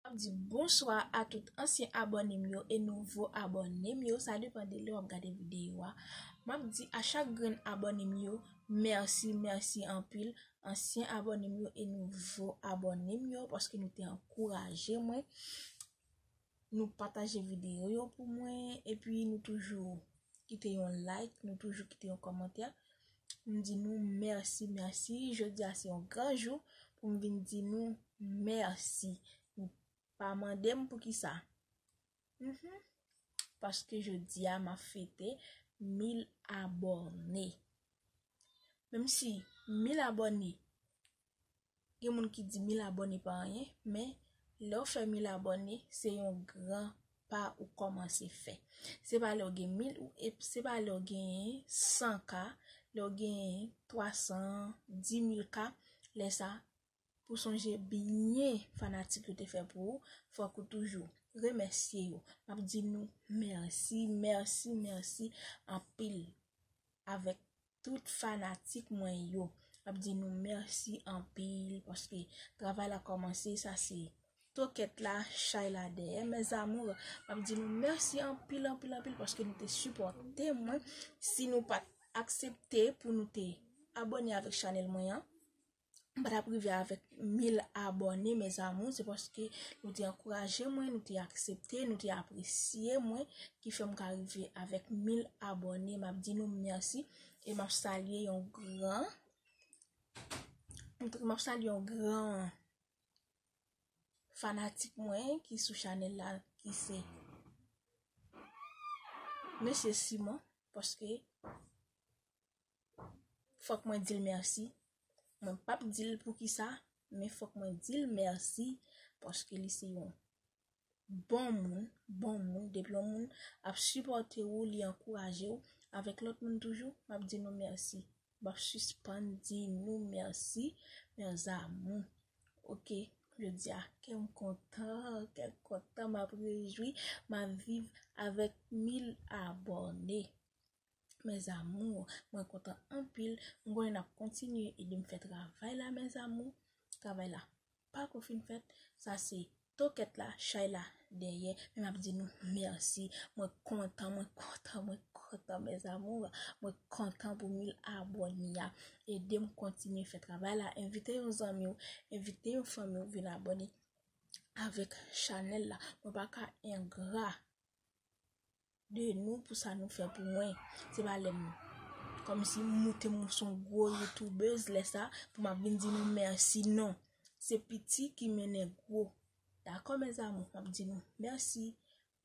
Map di bonswa a tout ansyen abòne m yo e nouvo abòne m yo sa depan de lè wap gade videyo a map di a chak grenn abòne m yo mèsi mèsi anpil ansyen abòne m yo e nouvo abòne m yo paske nou te ankouraje mwen nou pataje videyo yo pou mwen epi nou toujou kite yon like nou toujou kite yon kòmantè M di nou mèsi mèsi jodi a se yon gran jou pou m vin di nou mèsi nou pa mande m pou kisa paske jodi a ma fete mil abòne menm si mil abòne gen moun ki di 1000 abòne pa anyen, men lè ou fè 1000 abòne, se yon gran pa ou kòmanse fè. Se pa lè ou gen 1000 ou e se pa lè ou gen 100 ka, lè ou gen 300, 10000 ka, lè sa pou sonje byen fanatik yo te fè pou ou, fòk ou toujou remèsye yo. M ap di nou mèsi, mèsi, mèsi anpil avèk. tout fanatik mwen yo ap di nou mèsi anpil paske travay la kòmanse sa se tokèt la chay la dèyè mes amours ap di nou mèsi anpil anpil anpil paske nou te sipòte mwen si nou pat aksepte pou nou te abone avèk chanèl mwen an m pa tap rive avèk 1000 abòne mes amours se paske nou te ankouraje mwen nou te aksepte nou te apresye mwen ki fèm ka rive avèk 1000 abòne m ap di nou mèsi e m ap salye yon gran m ap salye yon gran fanatik mwen ki sou chanel la ki se Mesye Simon paske fòk mwen dil mèsi mwen pap dil poukisa men fòk mwen dil mèsi paske li se yon bon moun bon moun depi yon moun ap sipòte ou li ankouraje ou avèk lòt moun toujou map di nou mèsi map sispann di nou mèsi mes amours ok jodi a kèm kontan kèm kontan map rejwi map viv avèk mil abòne Mes amours mwen kontan anpil m konnen nap kontinye ede m fè travay la mes amours travay la pako fin fèt sa se tokèt la chay la dèyè men map di nou merci mwen kontan mwen kontan mwen kontan mes amours mwen kontan pou 1000 abòne a edem kontinye fè travay la envite yon zanmi w envite yon fanmi w vin abòne avèk chanèl la mwen paka engra. de nou pou sa nou fè pou mwen. Se pa lè m kòm si m moute m sou yon gwo youtubeuse lè sa pou m ap vin di nou mèsi non. Se piti ki mennen gwo. Dakò mèzamou m ap di nou mèsi.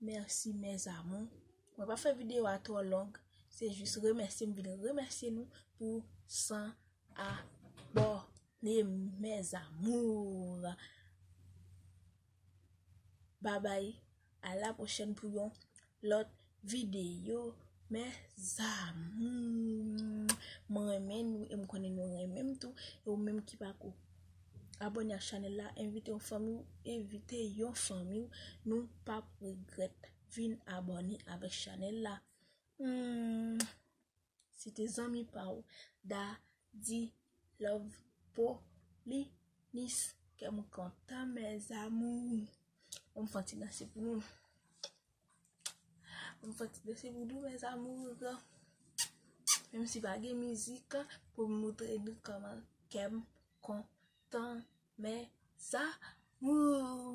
Mèsi mèzamou. Mwen pa fè videyo a twò long. Se jis remèsye m vin remèsye nou pou 100 abòne mèzamou. Babay a la prochèn pou yon lòt videyo mes amours mwen renmen nou e m konnen nou renmen m tou e ou menm ki pako abone ak chanèl la envite yon fanmi w envite yon fanmi w nou pap regrèt vin abone avèk chanèl la humm. Si te zanmi pa w Da di love po li nis Kè m kontan mes amours An m fè yon ti danse pou nou An m fè yon ti danse pou nou mes amours Menm si pa gen mizik Pou m moutre nou kòman kè m kontan mes amours